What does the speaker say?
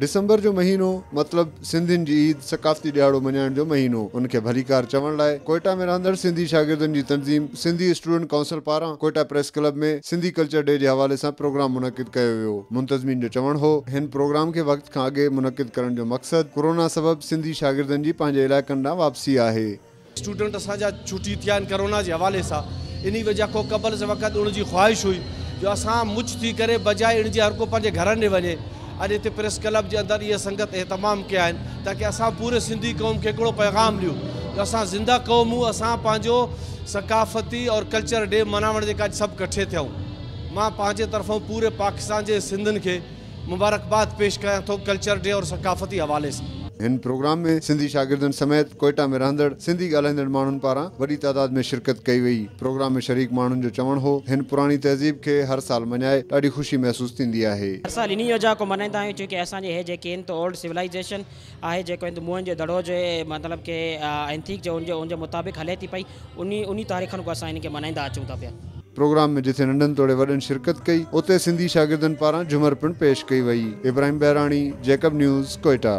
ڊسمبر جو مهينو مطلب سنڌين جي عيد ثقافتي ڏهاڙو مڃائڻ جو مهينو ان کي ڀليڪار چوڻ لاء ڪوئيٽا ۾ رهندڙ سنڌي شاگردن جي تنظيم سنڌي اسٽوڊنٽ ڪائونسل پاران Quetta press club ۾ Sindhi culture day جي حوالي سان پروگرام منعقد ڪيو ويو منتظمين جو چوڻ هو هن پروگرام کي وقت کان اڳي منعقد ڪرڻ جو مقصد ڪورونا سبب سنڌي شاگردن جي پنهنجي علائقن ڏانهن واپسي آهي اسٽوڊنٽ اسان جا ڇٽي ٿيا آهن ڪرونا جي حوالي سان انهي وجه کان قبل سان وقت اڻ جي خواهش هئي جو اسان مچ ٿي ڪري بجاء اڻ جي هر ڪو پنهنجي گهرن ڏي وڃي اڄ هتي پريس ڪلب جي اندر اهي سنگت اهتمام ڪيا آهن تاڪي اسان پوري سنڌي قوم کي هڪڙو پيغام ڏيون جو اسان زنده قوم هون اسان پنهنجو ثقافتي اور ڪلچر ڊي مناوڻ جي ڪاڄ سڀ ڪٺي ٿيون مان پنهنجي طرفون پوري پاڪستان جي سنڌين کي مبارڪباد پيش ڪيان ٿو ڪلچر ڊي اور ثقافتي حوالي سان. هن پروگرام ۾ سنڌي شاگردن سميت ڪوئيٽا ۾ رهندڙ سنڌي ڳالهائيندڙ ماڻهن پاران وڏي تعداد ۾ شرڪت ڪئي وئي. پروگرام ۾ شريڪ ماڻهن جو چوڻ هو هن پراڻي تهذيب کي هر سال مڃائي ڏاڍي خوشي محسوس ٿيندي آهي. هر سال انهي يوجنا کي ملهائيندا آهيون چونڪه اسان جي هي جي ڪين تو اولڊ سولائيزيشن. آهي جيڪو هند موهن جو دڙو جي مطلب ڪي اينٿيڪ جو ان جي مطابق هلي ٿي پئي انهي انهي تاريخن ڪو اسان ان کي منائيندا اچون ٿا پيا. پروگرام ۾ جتي ننڍن توڙي وڏن شرڪت ڪئي اتي سنڌي شاگردن پاران جهمر پڻ پيش ڪئي وئي. Ibrahim Behrani, Jacob news, Quetta.